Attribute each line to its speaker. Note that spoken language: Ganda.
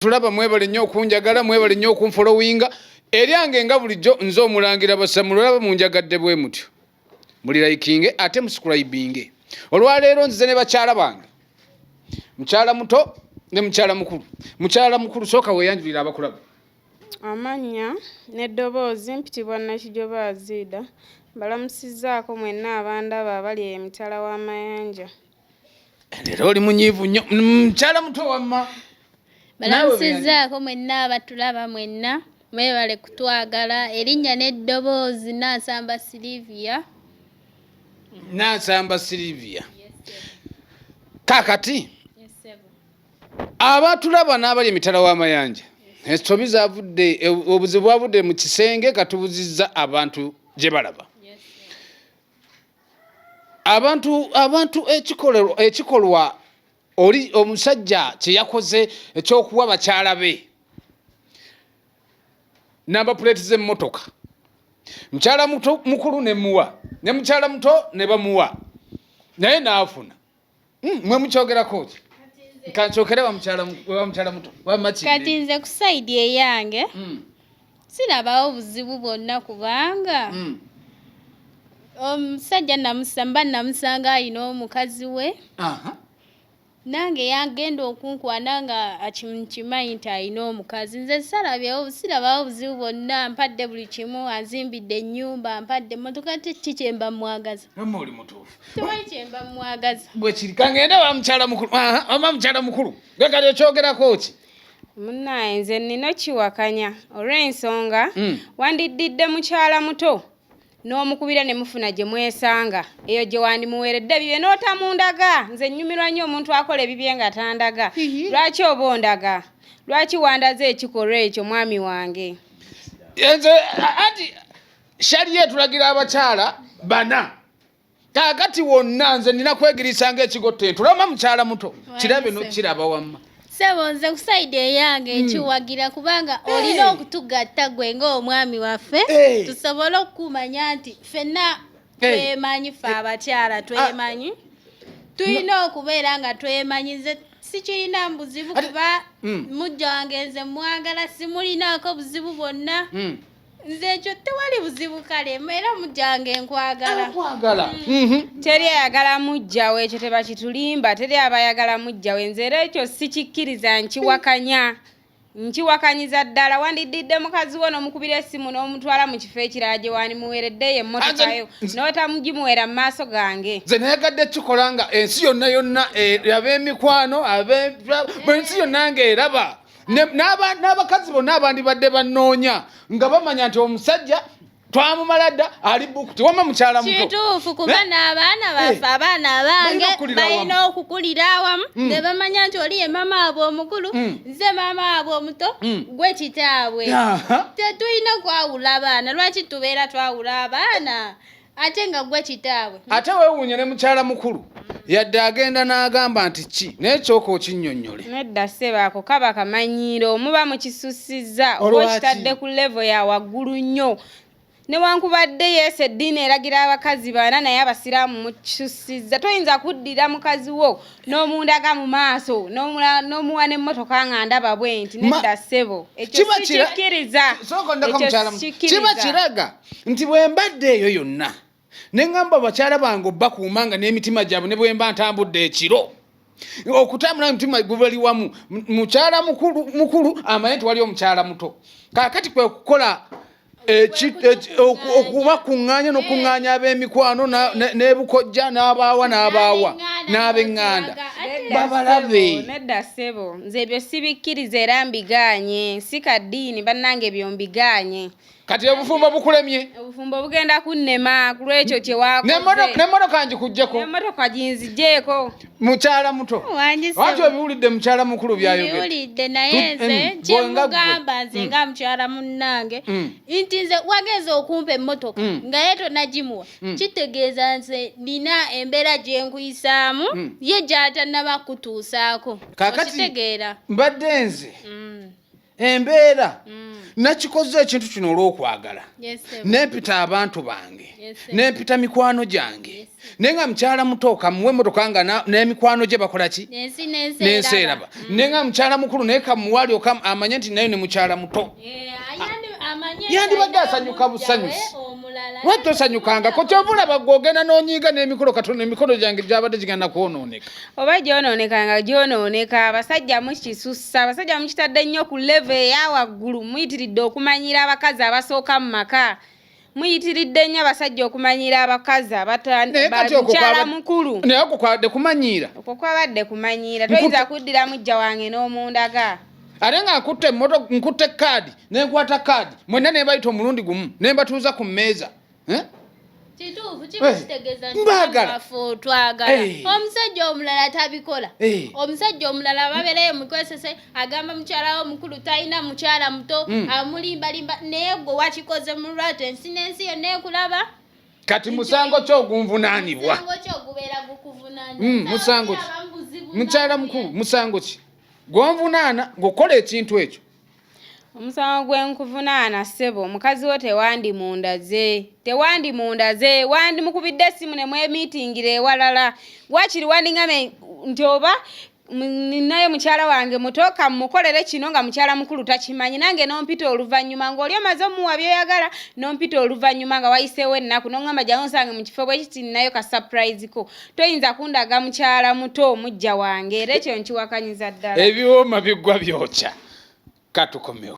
Speaker 1: tulaba mwebale nnyo okunjagala mwebale nnyo okunfolowinga eryange nga bulijjo nze omulangira basamula olaba munjagadde bwe mutyo muli likinge ate musukulaibinge olwaleero nzize ne bakyala bange mukyala muto ne mukyala mukulu mukyala mukulu sooka weyanjulira abakulaba amannya
Speaker 2: n'eddoboozi mpitibwa nakijoba aziida mbalamusizaako mwenna abandaba abali emitala w'amayanja
Speaker 1: Leero oli munyiivu nnyo mukyala mm, muto wamma. Balamusizaako
Speaker 3: mwenna abatulaba mwenna mwebale kutwagala erinnya n'eddoboozi Nansamba Sylivia. Nansamba Sylivia. Kaakati abatulaba n'abali emitala w'amayanja ensobi zavudde e, obuzibu bwavudde mu kisenge katubuzizza abantu gye balaba. abantu abantu ekikolwa ekikolwa oli omusajja kye yakoze ekyokuwa bakyala be namba puleeti z'emmotoka mukyala muto mukulu ne muwa ne mukyala muto ne bamuwa naye n'afuna Hmm, mwe mukyogerako ki kankyokere wamukyala muto wamaki kati nze ku saidi eyange hmm. sirabawo buzibu bwonna kubanga hmm. omusajja namusamba namusanga ayina omukazi we nange yagenda okunkwana nga akimanyi nti alina omukazi nze salabyewo sirabawo buzibu bwonna mpadde buli kimu azimbidde ennyumba mpadde emotoka kiki kyemba mwagaza oli mutuufu
Speaker 1: tewali kyemba
Speaker 3: mwagaza bwe kiri kangende wa
Speaker 1: mukyala mukulu ama mukyala mukulu gwe kali okyogerako ki munaye
Speaker 2: nze nina kiwakanya olw'ensonga mm. wandiddidde mukyala muto n'omukubira ne mufuna gye mwesanga eyo gye wandimuweeredde bibye n'otamundaga nze nnyumirwa nnyo omuntu akola ebibye nga tandaga lwaki oba ondaga lwaki wandaze ekikolwa ekyo mwami wange nze
Speaker 1: anti shaliyo etulagira abakyala bana kakati wonna nze nina kwegirisa nga ekigo tentulama mukyala muto kirabe nokiraba wamma sebo nze
Speaker 3: kusaidi eyange hmm. nkiwagira kubanga olina okutugatta gwe ngaomwami waffe tusobole okukumanya nti fenna twemanyi fe abakyala ah. twemanyi tulina okubeera nga twemanyi nze sikirina mubuzibu kuba hmm. mujja wange nze mwagala simulinako buzibu bwonna hmm. nze ekyo tewali buzibu kale era mujjange nkwagalakwagala mm. mhm. teri
Speaker 2: ayagala mujjawo ekyo tebakitulimba teri abayagala mujjawo enze era ekyo sikikkiriza nkiwakanya nkiwakanyiza ddala wandiddidde mukazi wo nomukubira esimu nomutwala mu kifo ekirala gye wandimuweereddeyo emotokayo notamugimuwera mu maaso gange nze nayagadde kikola
Speaker 1: nga ensi yonna yonna eh, ab'emikwano ab'ensi yonna nga eraba n'abakazi bonna abandibadde bannoonya nga bamanya nti omusajja twamumala dda ali buku tewama mukyala muto kituufu kuba eh?
Speaker 3: n'abaana eh. baffe abaana abange balina okukulira awamu mm. ne bamanya nti oli ye maama waabwe omukulu mm. nze maama waabwe omuto mm. gwe kitaabwe tetulina kwawula abaana lwaki tubeera twawula abaana ate nga gwe kitaabwe ate wewuunye ne
Speaker 1: mukyala mukulu yadde agenda n'agamba nti ki naye kyoka okinnyonnyole nedda sebaako
Speaker 2: kaba kamanyiiro omuba mukisussizza oba okitadde ku levo ya waggulu nnyo newankubadde yesu eddiini eragira abakazi baana naye abasiraamu mukyusiza toyinza kuddira mukazi wo n'omundaga mu maaso n'omuwa n'emmotoka nga ndaba bwenti nedda ssebo ekyo sikikiriza
Speaker 1: kiba kiraga nti bwe mbadde eyo yonna ne ŋŋamba bakyala bange obbakuuma nga n'emitima gyabwe ne bwe mba ntambudde ekiro okutambula omutima gubali wamu mukyala mukulu amanye nti wali omukyala muto kakati kwe kukola okuba kuŋŋaanya n'okuŋŋaanya ab'emikwano n'ebukojja n'abaawa n'abaawa n'ab'eŋŋanda babalabe nedda ssebo
Speaker 2: nze ebyo sibikkiriza era mbigaanye si ka ddiini bannange ebyo mbigaanye kati obufumbo
Speaker 1: bukulemye obufumbo bugenda
Speaker 2: kunnema ku lwekyo kye wakozenemmotoka ngikugjeko
Speaker 1: emmotoka ginzijeeko
Speaker 2: mukyala muto
Speaker 1: wati obiwulidde mukyala mukulu byayogeddewulidde naye mm,
Speaker 3: nze mm, kyemugamba nze mm. nga mukyala munnange nti nze wageza okumpa emmotoka nga ye tonagimuwa kitegeeza nze nina embeera gyenkuyisaamu ye gyatanaba kutuusaako
Speaker 1: okitegeera mbadde nze embeera mm. nakikoze ekintu kino olw'okwagala nempita abantu bange nempita mikwano gyange naye nga mukyala muto kamuwe emotoka nga n'emikwano gye bakola ki n'ensi eraba mm. naye nga mukyala mukulu naye kamuwali oka amanye nti nayo ne mukyala muto eh, yandibadde asanyuka busanyusi lwaki tosanyukangako kyovulaba gwe ogenda n'onyiiga n'emikolo katonda emikolo gyange gyabadde gigenda kwonooneka oba gyonooneka
Speaker 2: nga gyonooneka abasajja mukisussa abasajja mukitadde nnyo ku leve eya waggulu muyitiridde okumanyira abakazi abasooka mu maka muyitiridde nnyo abasajja okumanyira abakazi abamukyala mukulu naye okwo kwabadde
Speaker 1: kumanyiira okwo kwabadde
Speaker 2: kumanyiira toyinza kuddira mujja wange n'omundaga ate nga nkutte
Speaker 1: moto nkutte kaadi nenkwata kaadi mwenna nebayita omulundi gumu nembatuuza ku mmeeza
Speaker 3: eh? omusajja omulala tabikola omusajja omulala babeerayo mukozese agamba mukyala wo mukulu talina mukyala muto hmm. amulimbalimba naye gwe wakikoze mu lwatu ensi n'ensi yonna ekulaba kati musango
Speaker 1: ki ogunvunaanibwa
Speaker 3: hmm, musango ki
Speaker 1: mukyala mukulu musango ki gwonvunaana ng'okola ekintu ekyo omusango
Speaker 2: gwe nkuvunaana ssebo mukazi wo tewandimundaze tewandimundaze wandimukubidde essimu ne mwemiitingira ewalala wakiri wandingame nti oba ninayo mukyala wange muto kamukolere kino nga mukyala mukulu takimanyi nange nompita oluvannyuma ng'oli omaze omuwa byoyagala nompita oluvannyuma nga wayiseewo ennaku noŋamba jangu nsange mu kifo bwekiti ninayo ka surprise ko toyinza kundaga mukyala muto omujja wange era ekyo
Speaker 1: nkiwakanyiza
Speaker 2: ddala
Speaker 1: ebiwooma
Speaker 2: biggwa byokya katukomewo